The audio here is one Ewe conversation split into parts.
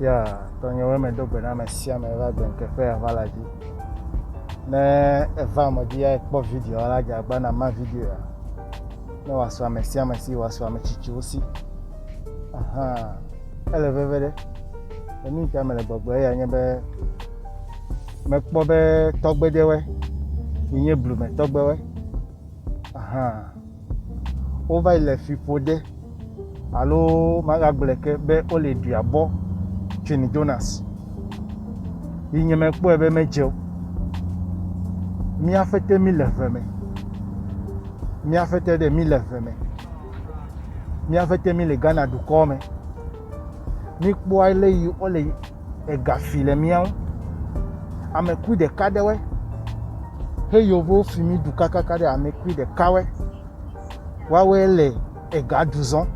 Ya tɔnyewoe medo gbe na ame sia ame va gbenkekpe ava la dzi. Ne eva ame dzi ya kpɔ video la dze agba na ma video ya. Ne wòasɔ ame sia ame si wòasɔ ame tsitsiwo si. Aha. Ele veve ɖe. Enu ta mele gbɔgblɔ ya nye be mekpɔ be tɔgbedewe yi nye blume tɔgbewe. Aha. wova yi le fi ƒode alo magagblɔe ke be wole ɖia bɔ tso ne Jonas. Yi nye mekpɔe be medze o. Mía fete mi le ʋe me. Mía fete ɖe mi le ʋe me. Mía fete mi le Ghana dukɔ me. Mi kpɔa le yi wole ega fi le mía ŋu. Amekui ɖeka ɖewɔe. He yovowo fi mí du kakaka ɖe amekui ɖekawɔe. Woawɔe le ega du zɔn.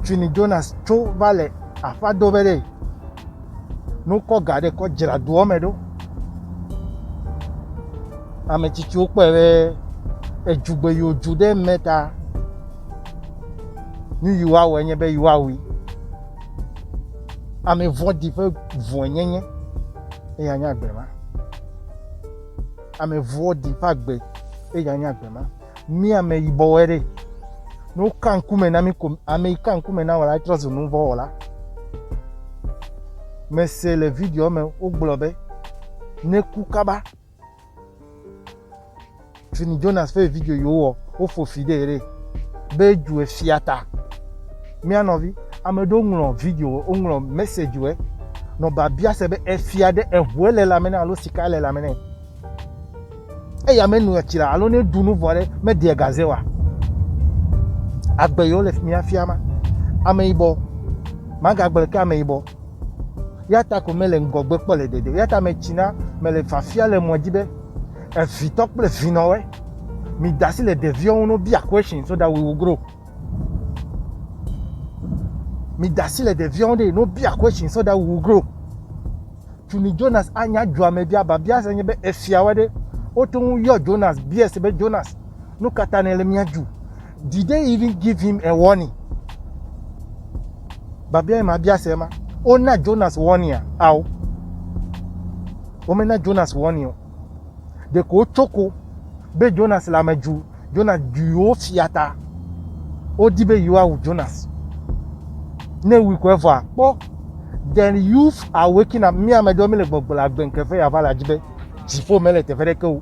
Tsuni Jonas tso va le aƒa do be ɖe nukɔ ga ɖe kɔ dzra doɔ me ɖo. Ame tsitsiwo kpɔe be edzugbe yiwo dzu ɖe mɛ ta nu yiwo awɔe nye be yewoawui. Ame vɔ̃ɖi ƒe vɔ̃e nye nye, eya nye agbe ma. Ame vɔ̃ɖi ƒe agbe, eya nye agbe ma. Mi ame yibɔwoe ɖe, ne woka ŋkume na mi ko, ame yi ka ŋkume na wò la, etrɔ zu nu vɔ̃ wɔla. Mese le video me wogblɔ be, neku kaba Fini Jonas ƒe video yi wowɔ wofo fi ɖe ɖe be dzu efia ta. Mía nɔvi ame ɖewo ŋlɔ video woŋlɔ message wɔ nɔ babia se be efia ɖe eʋue le lãme ne alo sika le lãme ne. Eya menoa tsi la alo ne ɖu nu vɔ ɖe meɖea gaze wa. Agbe yewo le mía fia ma. Ameyibɔ magagblẽ ke ameyibɔ. Eya ta ko mele ŋgɔgbe kpɔ le dede. Eya ta metsina, mele fafia le mɔ dzi be evitɔ kple vinɔwe, mi da asi le ɖeviwo ŋu no bia question so that we will grow. Mi da asi le ɖeviwo ŋu ɖe no bia question so that we will grow. Tuni Jonas anya dua me bia ba bia se nye be efiawe ɖe wote ŋu yɔ Jonas bia se be Jonas nu katã ne le mia ju. Did they even give him a warning? Babia ye mabia se ma. Wona Jonas warning a? Ao. Womena Jonas warning o. Ɖeko wotsoko be Jonas le ame dzu. Jonas dzu yewo fia ta. Wodi be yewoawu Jonas. Ne wui ko evɔa, kpɔ. Then youth are waking up. Mi ame ɖewo mi le gbɔgblɔ agbe ŋkeke ya va la dzi be dziƒo mele teƒe ɖeke o.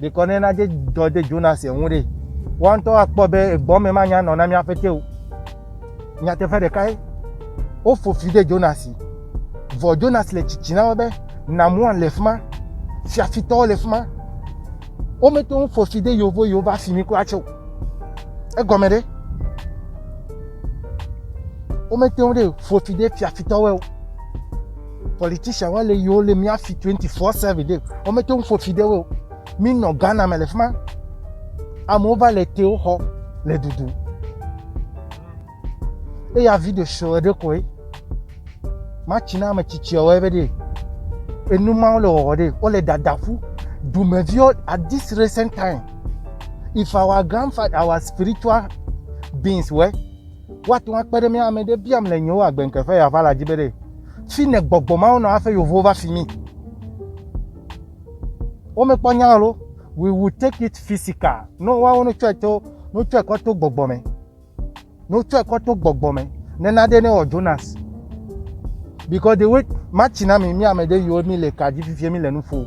Ɖekɔ ne na dɔ de Jonas ŋu ɖe, woa ŋutɔ akpɔ be egbɔme manya nɔ na mía ƒete o. Nyateƒe ɖeka ye, wofo fi de Jonas. Vɔ Jonas le tsitsi na wo be, Namua le fi ma, fiafitɔwo le fi ma. Womete ŋu fo fi de yewo yewo va fi mi kura tsɛ o. Egɔme ɖe? Womete ŋu ɖe fo fi de fiafitɔwoe o. Politician wa le yiwo le mía fi 24/7 ɖe. Wo mete ŋu ƒo fi ɖe wo. Mi nɔ Ghana me le fi ma. Amewo va le tewo xɔ le dudu. Eya video show ɖe koe. Matsi na ame tsitsiawo ebe ɖe. Enu mawo le wɔwɔ ɖe. Wo le dadaƒu. Dumeviwo at this recent time. If our grandfather, our spiritual beings were Woate ŋu akpe ɖe mía ame ɖe biam le nyewo agbe ŋke ƒe yava la dzi be ɖe fi ne gbɔgbɔ mawo nɔ aƒe yovowo va fi mi. Womekpɔ nya lo. We will take it physical. No woawo no tsɔe to no tsɔe kɔ to gbɔgbɔ me. No tsɔe kɔ to gbɔgbɔ me. Nena ɖe ne wɔ Jonas. Because the way matsi na mi mi ame ɖe yiwo mi le ka dzi fifia mi le nu ƒo.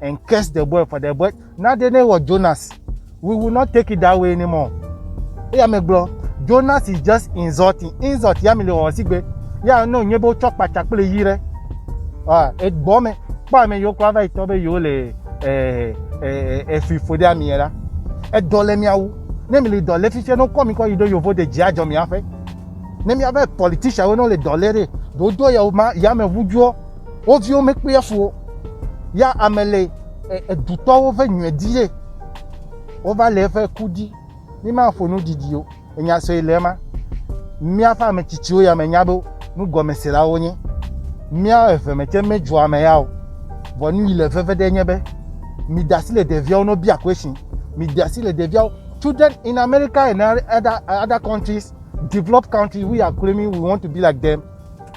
and curse the boy for the boy. Now the name was Jonas. We will not take it that way anymore. Eya me gblɔ, Jonas is just insulting. Insult ya mi le wɔwɔ sigbe. Ya ne wònye be wotsɔ kpatsa kple yi ɖe. Ah, egbɔ me. Kpɔ ame yiwo kura va yi tɔ be yewo le eh, eh, eh, efui fo ɖe ami la. Edɔ le mia wu. Ne mi le dɔ le fifia, ne wokɔ mi kɔ yi ɖo yovo de dzi adzɔ mia ƒe. Ne miaƒe politician wo ne wole dɔ le ɖe, ɖo do yawo ma yameʋu dzoɔ. Wo viwo mekpea fu o. Ya ame le edutɔwo ƒe nyuie di ye wova le eƒe ku di. Mimaƒo nu didi o. Enya sue le ema. Míaƒe ame tsitsiwo ya menya be nugɔmeselawo wonye. Mía eve me tse medzua ame ya o. Vɔ nu yi le veve ɖe nye be mide asi le ɖeviawo no bia question. Mide asi le ɖeviawo. Children in America and other other countries, developed countries, we are claiming we want to be like them.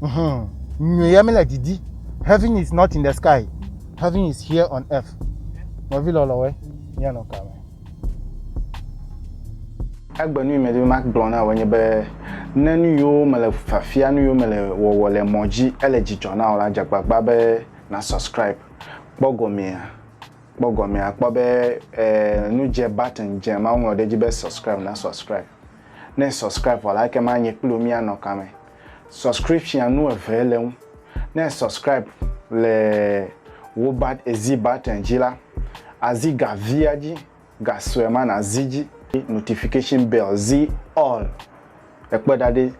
Hmm, nyui ya mele didi. Heaven is not in the sky. Heaven is here on earth. Nɔvi lɔlɔwe, míanɔ ka me? Egbe nu yi medi be magblɔ na wò nye be ne nu yiwo mele fiafia, nu yiwo mele wɔwɔ le mɔ dzi ele dzidzɔ na wò la, dze agbagba be na subscribe. Kpɔ gɔmea, kpɔ gɔmea, kpɔ be eh, nu dze button dze ma woŋlɔ ɖe edzi be subscribe, na subscribe. Ne e subscribe vɔ la ekema nye kpli wò mía nɔ kame. Subscription nu eve le eŋu. Ne e subscribe le wò bat ezi button dzi la, azi ga via dzi, ga sue ma na zi dzi. Notification bell zi all. Ekpɔe ɖa ɖi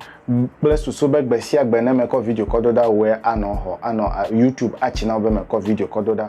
kple susu be gbe sia gbe ne me kɔ video kɔ do ɖa wòe anɔ xɔ anɔ YouTube atsi na wò be me kɔ video kɔ do ɖa.